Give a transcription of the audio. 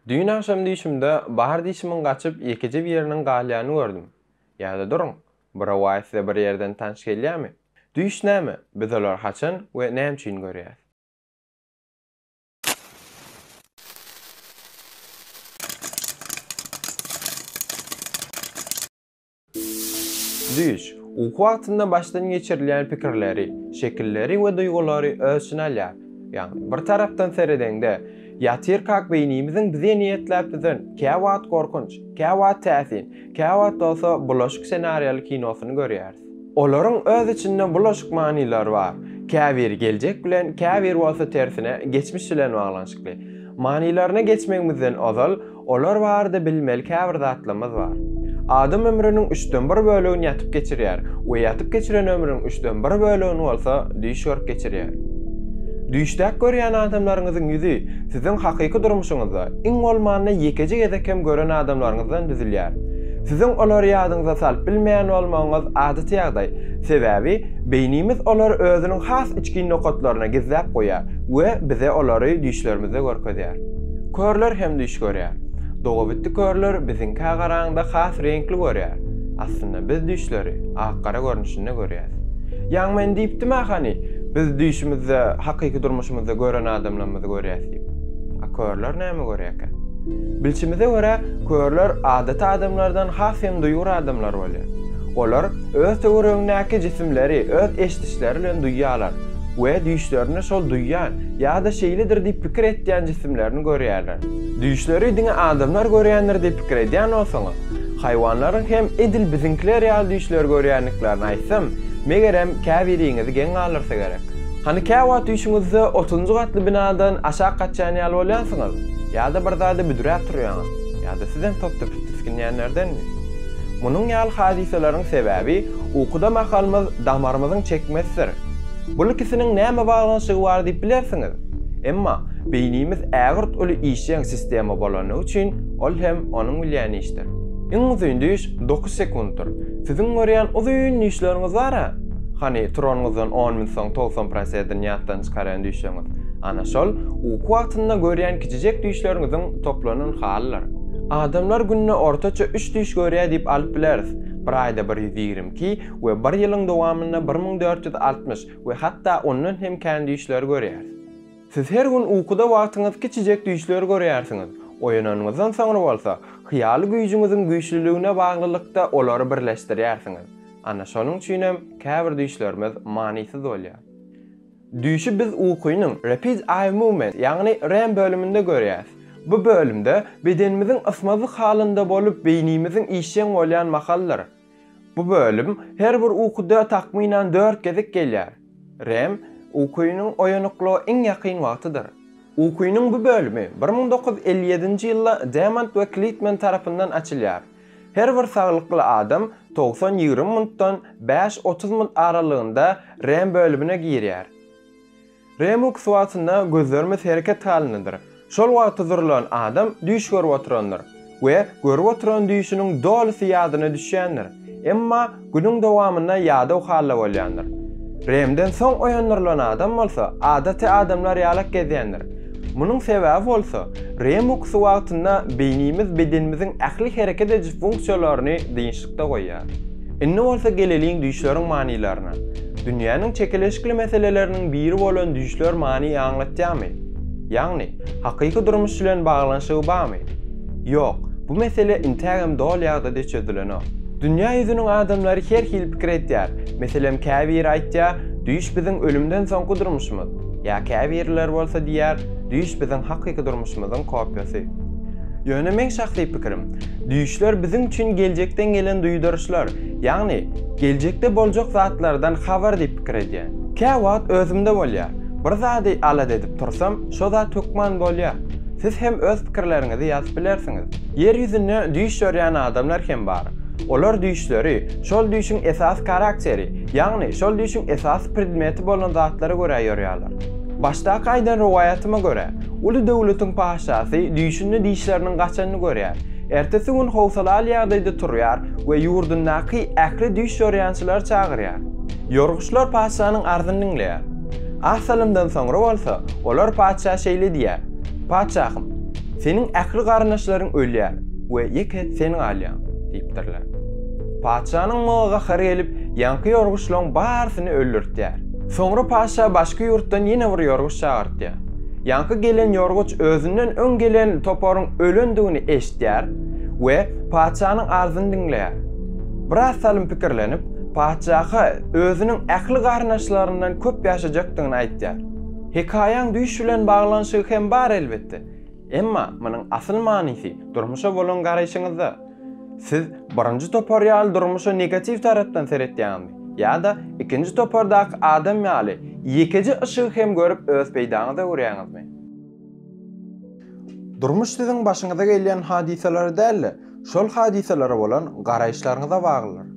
Düýn agşam düýşümde bar dişimiň gaçyp ýekeje bir ýeriniň galýany gördüm. Ýa-da duruň, bu rowaýat size bir ýerden tanyş gelýämi? Düýş näme? Biz olary haçan we näme üçin görýäs? Düýş, uky wagtynda başdan geçirilýän pikirleri, şekilleri we duýgulary öz içine alýar. Ýagny, bir tarapdan seredeňde, ýatyrkak beýnimiziň bize niýetläp düzen käwagt gorkunç, käwagt täsin, käwagt bolsa bulaşyk ssenariýaly kinosyny görýäris. Olaryň öz içinde bulaşyk manylary bar, käbiri geljek bilen, käbiri bolsa tersine, geçmiş bilen baglanyşykly. Manylaryna geçmegimizden ozal, Olar barada bilmeli käbir zatlamyz bar. Adam ömrüniň üçden bir bölegini ýatyp geçirýär we ýatyp geçiren ömrüniň üçden bir bölegini bolsa düýş görüp geçirýär. Düýşdäki görýän adamlaryňyzyň ýüzi siziň hakyky durmuşyňyzda iň bolmanda ýekeje gezek hem gören adamlaryňyzdan düzülýär. Siziň olary ýadyňyza salyp bilmeýän bolmagyňyz adaty ýagdaý, sebäbi beýnimiz olary özüniň has içgin nokatlaryna gizläp goýýar we bize olary düýşlerimizde görkezýär. Körler hem düýş görýär. Dogabitdi körler biziňkä garaňda has reňkli görýär. Aslynda biz düýşleri ak-gara görnüşinde görýäs. Ýaň men diýipdim-ä hany, biz düýşümizde hakyky durmuşymyzda gören adamlarymyzy görýäs diýip. A körler näme görýärkä? Bilşimize görä, körler adaty adamlardan has hem duýgur adamlar bolýar. Olar öz töweregindäki jisimleri öz eşidişleri bilen duýýarlar we düýşlerinde şol duýýan, ýa-da şeýledir diýip pikir etýän jisimlerini görýärler. Düýşleri diňe adamlar görýändir diýip pikir edýän bolsaňyz, haýwanlaryň hem edil biziňkiler ýaly düýşleri görýändiklerini aýtsam, megerem, käbiriňizi geň galdyrsa gerek. Hany kä wagt düýşüňizde otuzynjy gatly binadan aşak gaçýan ýaly bolýansyňyz, ýa-da bir zada büdräp turýaňyz, ýa-da sizem top-tepis tisginýänlerdenmi? Munuň ýaly hadysalaryň sebäbi, ukuda mahalymyz damarymyzyň çekmesidir. Bul ikisiniň näme baglanyşygy bar diýip bilersiňiz? Emma beýnimiz ägirt uly işjeň sistema bolany üçin ol hem onuň bilýän işdir. Iň uzyn düýş dokuz sekuntdyr. Siziň görýän uzyn düýşleriňiz bar-a? Hany, turanyňyzdan on minut soň togsan prosedini ýatdan çykarýan düýşüňiz? Ana şol, uky wagtynda görýän kiçijek düýşleriňiziň toplanan halydyr. Adamlar günde ortaça üç düýş görýär diýip alyp bileris. Bir aýda bir ýüz ýigrimi iki, we bir ýylyň dowamynda bir müň dört ýüz altmyş we hatda ondan hem kän düýşler görýäris. Siz her gün ukuda wagtyňyz kiçijek düýşler görýärsiňiz, oýananyňyzdan soňra bolsa, hyýaly güýjüňiziň güýçlüligine baglylykda olary birleşdirýärsiňiz. Ana şonuň üçin hem käbir düýşlerimiz manysyz bolýar. Düýşi biz ukynyň Rapid Eye Movement, ýagny REM bölüminde görýäris. Bu bölümde bedenimiziň ysmazlyk halynda bolup, beýnimiziň işjeň bolýan mahalydyr. Bu bölüm her bir ukuda takmynan dört gezek gelýär. REM, ukynyň oýanyklyga iň ýakyn wagtydyr. Ukynyň bu bölümi bir müň dokuz ýüz elli ýedinji ýylda Demant we Klitmen tarapyndan açylýar. Her bir saglykly adam togsan ýigrimi minutdan bäş otuz minut aralygynda REM bölümine girýär. Remux wagtynda gözlerimiz hereket halyndadyr. Şol wagty zurlan adam düýş görüp oturandyr we görüp oturan düýşüniň dolusy ýadyna düşýändir. Emma günüň dowamynda ýadaw halda bolýandyr. Remden soň oýandyrylan adam bolsa adaty adamlar ýalak gezýändir. Munuň sebäbi bolsa, remux wagtynda beýnimiz bedenimiziň ähli hereket ediş funksiýalaryny dynçlykda goýýar. Indi bolsa geleliň düýşleriň manylaryna. Dünýäniň çekeleşikli meseleleriniň biri bolan düýşler many aňlatýarmy? Ýagny, hakyky durmuş bilen baglanyşygy barmy? Ýok, bu mesele intägem doly ýagdaýda çözülenok. Dünýä ýüzüniň adamlary her hili pikir aýtýar. Meselem, käbiri aýtýar, düýş biziň ölümden soňky durmuşymyz. Ýa käbiriler bolsa diýýär, düýş biziň hakyky durmuşymyzyň kopýasy. Ýöne meň şahsy pikirim, Düýşler biziň üçin geljekden gelen duýduryşlar, ýagny geljekde boljak zatlardan habar diýip pikir edýän. Käwagt özümde bolýar, bir zady alada edip tursam, şo zat hökman bolýar. Siz hem öz pikirleriňizi ýazyp bilersiňiz. Ýer ýüzünde düýş görýän adamlar hem bar. Olar düýşleri, şol düýşüň esasy karakteri, ýagny şol düýşüň esasy predmeti bolan zatlara görä ýorýarlar. Başdaky aýdan rowaýatyma görä, Uly döwletiň patyşasy düýşünde dişleriniň gaçanyny görýär. Ertesi gün howsalaly ýagdaýda turýar we ýurdundaky ähli düýş ýorýançylary çagyrýar. Ýorguçlar patyşanyň arzyny diňleýär. Az salymdan soňra bolsa, olar patyşa şeýle diýýär, Patyşahym, seniň ähli garyndaşlaryň ölýär we ýeke sen galýaň, diýipdirler. Patyşanyň muňa gahary gelip, ýaňky ýorguçlaryň barysyny öldürtýär. Soňra patyşa başky ýurtdan ýene bir ýorguç çagyrtýar. Ýaňky gelen ýorguç özünden öň gelen toparyň ölendigini eşitýär we patyşanyň arzyny diňleýär. Biraz salym pikirlenip, patyşa özüniň ähli garyndaşlaryndan köp ýaşajakdygyny aýtýar. Hekaýaň düýş bilen baglanyşygy hem bar elbetde. Emma munuň asyl manysy durmuşa bolan garaýşyňyzda. Siz birinji topar ýaly durmuşa negatiw tarapdan seretýäňizmi? Ýa-da ikinji topardaky adam ýaly ýekeje yşygy hem görüp öz peýdaňyza görýäňizmi? Durmuş siziň başyňyza gelýän hadysalara däl-de, şol hadysalara bolan garaýyşlaryňyza baglydyr.